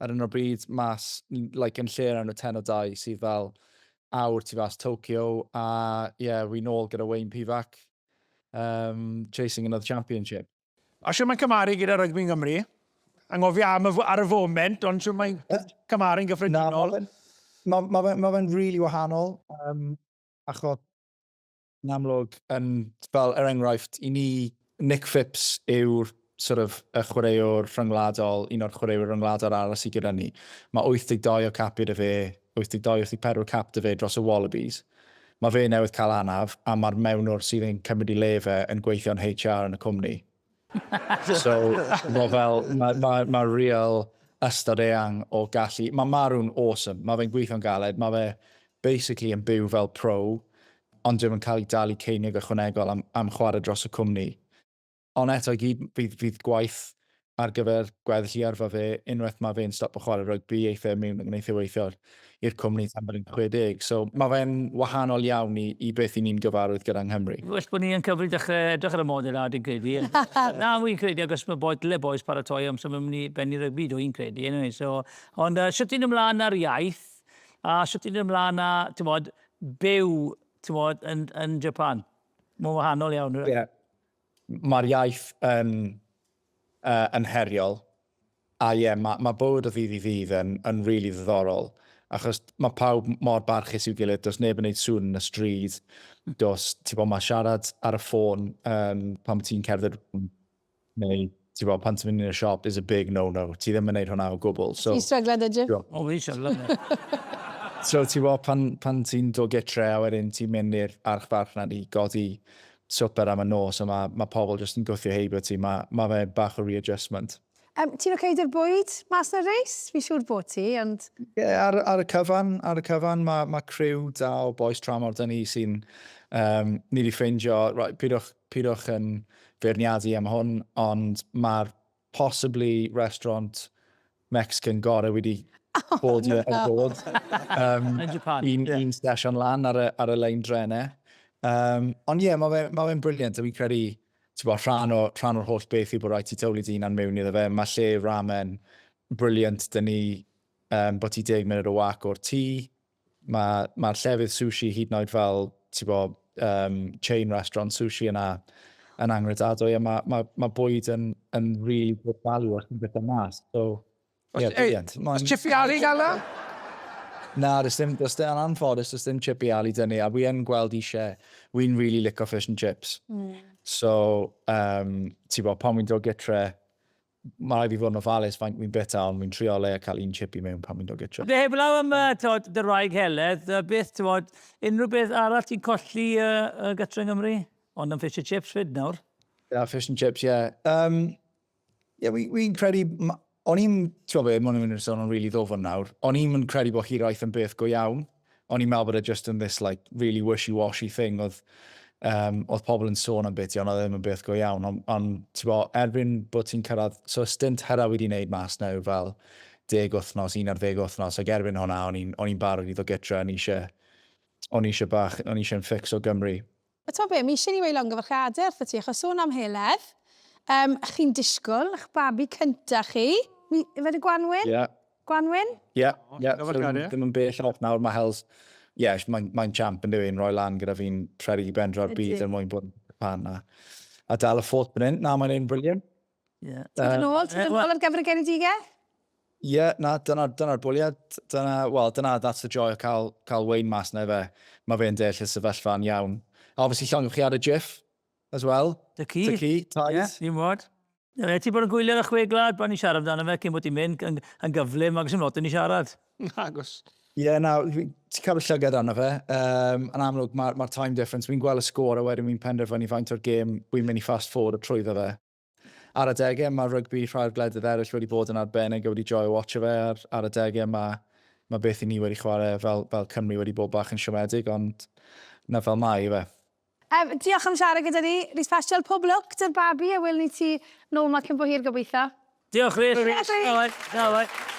Ar hyn o bryd, mas, like, yn lle yn y ten o dau sydd fel awr tu fas Tokyo, a ie, yeah, wi nôl gyda Wayne Pivac, um, chasing another championship. A siw mae'n cymaru gyda rygbi Nghymru? Anghofio am y, ar y foment, ond siw mae'n cymaru'n gyffredinol? Na, mae fe'n ma, ma, ma, ma, ma really wahanol, um, achos Yn amlwg, yn, fel, er enghraifft, i ni, Nick Phipps yw'r sort of, y chwaraewr rhyngwladol, un o'r chwaraewyr ryngwladol arall sydd gyda ni. Mae 82 o capiau 'da fe, 82, 84 cap 'da fe dros y Wallabies. Mae fe newydd cael anaf, a mae'r mewnwr sydd yn cymryd ei le fe yn gweithio'n HR yn y cwmni. so, mae fel, mae ma, ma real ystod eang o gallu. Mae Marw'n awesome, mae fe'n gweithio'n galed, mae fe basically yn byw fel pro, ond ddim yn cael ei dalu ceiniog ychwanegol am, am chwarae dros y cwmni. Ond eto i gyd, fydd, fydd gwaith ar gyfer gweddill i arfa fe, unwaith mae fe'n stop o chwarae rygbi, eitha e mewn yn gwneud e weithiol. i'r cwmni tan bod yn 60. So, mae fe'n wahanol iawn i, i beth i ni'n gyfarwydd gyda yng Nghymru. Well bod ni yn cyfri dechrau edrych ar y model 'na dwi'n credu. Na, fi'n credu achos mae bois, dyle bois paratoi am symud mynd i bennu rygbi dw i'n credu eniwe, so, ond yy shwt ti'n ymlaen na'r iaith a shwt ti'n ymlaen â, t'mod, byw, t'mod, yn, yn Japan? Mae'n wahanol iawn. Ie. Mae'r iaith yn, uh, yn heriol. A ie, ma, ma bywyd o ddydd i ddydd yn, yn rili ddiddorol, achos ma pawb mor barchus i'w gilydd, does neb yn neud sŵn yn y stryd, does, ti'n gwybod, ma siarad ar y ffôn um, pan mae ti'n cerdded neu ti'n gwybod, pan ti'n mynd i'n y siop is a big no-no, ti ddim yn neud hwnna o gwbl. So, Ti'n stryglen dy Jim? O, fi'n stryglen. so ti'n gwybod, pan, pan ti'n dod gytre a wedyn ti'n mynd i'r archfarch na di godi swper am y nos a mae ma pobl jyst yn gwthio heibio ti, mae ma fe bach o readjustment. Um, ti'n oce okay dy'r bwyd mas na reis? Fi siŵr bod ti, ond... Ie, yeah, ar, ar, y cyfan, ar y cyfan mae ma criw da o boes tramor dyn ni sy'n... Um, ni wedi ffeindio, right, pidwch, pidwch yn feirniadu am hwn, ond mae'r possibly restaurant Mexican gore wedi oh, bod i'r no. bod. Um, yn Japan. Un, yeah. un station lan ar y, ar y lein drenau. Um, ond ie, yeah, mae'n ma fe'n briliant, a fi'n credu Tibod, rhan o, rhan o'r holl beth yw bod rhaid ti tywlu dy hunan mewn iddo fe. Mae lle ramen brilliant 'da ni um, bod ti deg munud o wac o'r tŷ. Mae, mae'r llefydd sushi hyd yn oed fel, tibod, um, chain restaurant sushi yna yn angredadwy a mae, mae, mae bwyd yn, yn really good value os ti'n beth mas. So, Os, yeah, ei, os chippy ali gael na? Na, does dim, does dim, yn anffodus, does dim chippy ali dyn ni, a fi yn gweld eisiau, fi'n really lico fish and chips. Mm. So, um, ti bod, pan fi'n dod gytre, mae rhaid fi fod yn ofalus faint fi'n bita, ond fi'n trio le a cael un chippy mewn pan fi'n dod gytre. Dy heblaw am uh, tod, dy raig heledd, uh, beth, ti bod, unrhyw beth arall ti'n colli uh, uh, gytre yng Nghymru? Ond yn fish and chips fyd nawr. Yeah, fish and chips, yeah. Um, Ie, wi, wi'n credu, ma- o'n i'n, ti'n gwybod be, mae'n mynd i'r sôn o'n really ddofn nawr, o'n i'n mynd credu bod hiraeth yn beth go iawn, o'n i'n meddwl bod e just yn this like really wishy-washy thing oedd, um, oedd pobl yn sôn am beth ti, ond oedd e ddim yn beth go iawn, ond on, ti'n gwybod, erbyn bod ti'n cyrraedd, so y stint hyrra wedi wneud mas na yw fel deg wythnos, un ar ddeg wythnos, ac erbyn hwnna o'n i'n barod i ddod gytra, o'n i eisiau, o'n i eisiau bach, o'n i eisiau yn ffix o Gymru. A t'mo' be', mi isie ni weud llongyfarchiade wrthot ti, achos sôn am heledd, yym, chi'n disgwl 'ych babi cynta chi, mi, yfe yn y gwanwyn? Ie. Gwanwyn? Ie, ie, so ddim yn bell off nawr, ma' Hels, ie, mae'n, mae'n champ yndyw e, yn roi lan gyda fi'n rhedeg i ben dra'r byd er mwyn bod yn cân a, a dal y ffôt fan 'yn. Na, mae'n neud yn brilliant. Ie. Ti'n mynd nôl? Ti'n mynd nôl ar gyfer y Genedigaeth? Ie, yeah, na, dyna'r dyna bwliad. Dyna, well, dyna, that's the joy o cael, cael Wayne mas na fe. Mae fe'n deall y sefyllfa'n iawn. A obviously llongwch chi ar y GIF as well. Dy ci. Dy ci, Taiz. Ie, yeah, un wad. Ie, yeah, ti bod yn gwylio'r chwe glad, pan ni siarad amdano fe, cyn bod ti'n mynd, yn, yn gyflym, ac sy'n lot yn ni siarad. Nagos. Ie, yeah, na, ti'n cael y llygad arno fe. Um, yn amlwg, mae'r ma time difference, fi'n gweld y sgôr a wedyn fi'n penderfynu faint o'r gêm fi'n mynd i fast forward o trwyddo fe. Ar y degau, mae rygbi rhai'r gwledydd eraill wedi bod yn arbennig a wedi joio watch fe. Ar, ar y degau, mae, mae beth i ni wedi chwarae fel, fel Cymru wedi bod bach yn siomedig, ond na fel mae i fe. Yym, diolch am siarad gyda ni, Rhys Paschal, pob lwc 'da'r babi a welwn ni ti nôl 'ma cyn bo hir gobeithio. Diolch Rhys. Hwyl Rhys. Tara Rhys. Tara bye.